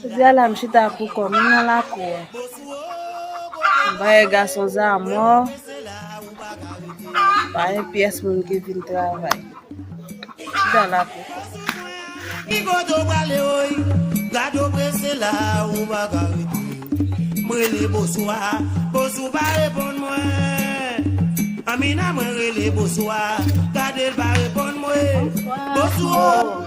Jodi a la m chita pou kò m nan lakou an. M bay gason zamò, pa yon pyès moun ki vin travay. M chita la pou kò m. Bonswa.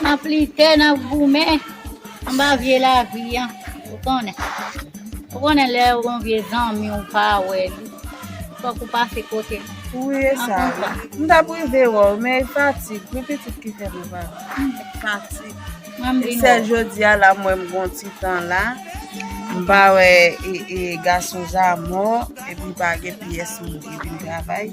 Nap lite, nap goumen anba vye lavi an, ou konnen. Ou konnen lè ou gon vye zanmi ou pa wè li, fòk ou pase kote li. Ou ye sa wi. M tap rive wè w men e fatig wi pitit ki fè m pa fatig. E sèl jodia la m wè m gon ti tan la. M pa wè gason zamò epi m pa gen pyès moun ki vin travay.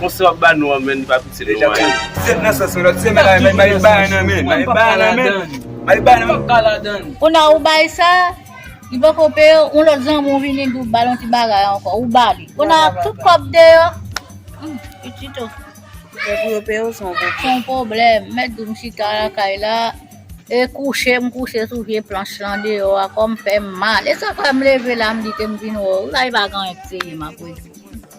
Konse wap ba nou an menn li pa piti nou an menn. Sèm nan sòs mwen lòt semèn la menn male bay nan menn male bay nan menn male bay nan menn. Kona ou bay sa li poko peye w yon lòt zanmi w vini di w bal yon ti bagay ankò ou ba li kona tout kòb deyò humm pitit o. Aprè pou yo peye w se yon pwoblèm. Se yon pwoblèm mèt di w m chita lakay la e kouche m kouche sou vye planch lan deyò a kò m fèm mal e sa fè m leve la m di ke m vin wè w la e pa gen anyen ki sere m aprè.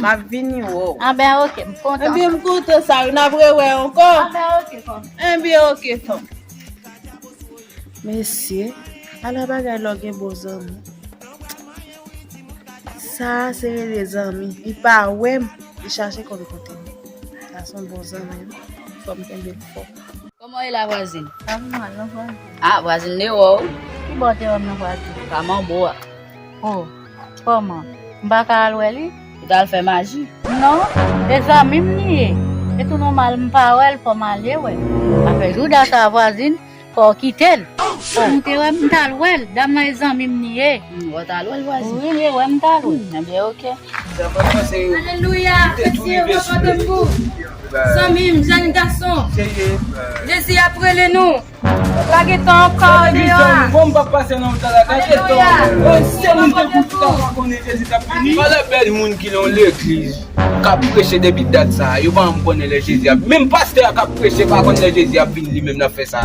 Map vini wè w. An ben ok, m kontan. Anben m kontan sa yo, nap re wè ankò. An ben ok ton. An ben ok ton. Mesye, ala bagay lò gen bon zanmi. Sa a se rele zanmi. Li pa wè m, li chache konn kote m. Sa a se yon bon zanmi wi. Fò m kenbe l fò. Kòman w ye la vwazin? Pa pi mal non vwazin. Ah vwazin m de wè w. Ki bò w te wè m non vwazin? Kaman w bo a. Oh. Kòman? M pa ka al wè li? Li t al fè maji? Non, e zanmi m li ye. Se tou nòmal m pa wè l fò m ale wè l. Sa fè jou dat a vwazin, fò w kite l. Fò m te wè m t al wè l, dam nan e zanmi m li ye. Ou t al wè l vwazin? Wi, m te wè m t al wè l. Ebyen ok. Alelouya! Ke Dye kontan de nou! Zanmi m, jèn gason, Jezi ap rele nou! Pa gen tan ankò deyò a. Ala bèl moun ki nan legliz kap preche depi dat sa yo pa janm konnen lè Jezi ap menm pastè a kap preche pa konn lè Jezi ap vini li menm lap fè sa.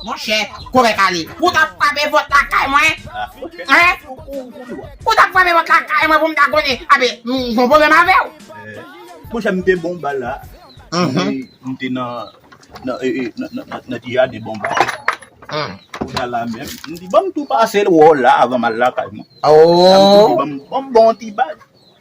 Monchè, kòmè kale, ou ta frape vòt lakay mwen? Hein? Ou ta frape vòt lakay mwen pou m ta konnen? Abe, m gon pwoblèm avè w? Monchè, m te bonba la. M te nan, nan, nan ti jaden bonba la. Ou ta la menm. M di, ban m tou pase l wè w la avan m al lakay mwen. Ou! Sa m tou di, ban m, ban m ba w yon ti bag.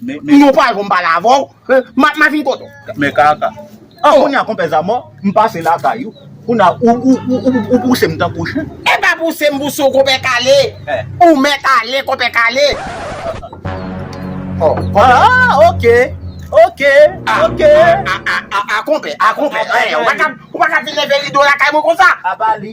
Men yon pwa jom pale avèw map ma vin kote w. Men kaka. An kounya konpè Zamò m pase lakay ou kounya ou pouse m tankou chen. E pa pouse m pouse w konpè kale ou mèt ale konpè kale. Aah ok ok ok. Aah aah aah konpè aah konpè ou pa ka vin leve rido lakay mwen konsa. Apa li.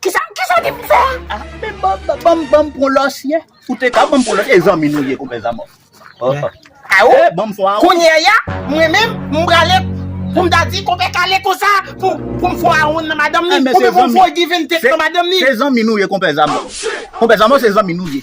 Kisa kisa w di pou m fè a? Ah men banm banm banm pran lòsyè. Ou te ka banm pran lòsyè e zanmi nou ye konpè Zama. A ou? Eh banm fò a ou. Kounye a mwen menm m prale pou m ta di konpè Kale konsa pou pou m fò a ou nan madanm li. Ou menm ou fò Giventech nan madanm li. Se zanmi nou ye konpè Zama. Konpè Zama se zanmi nou ye.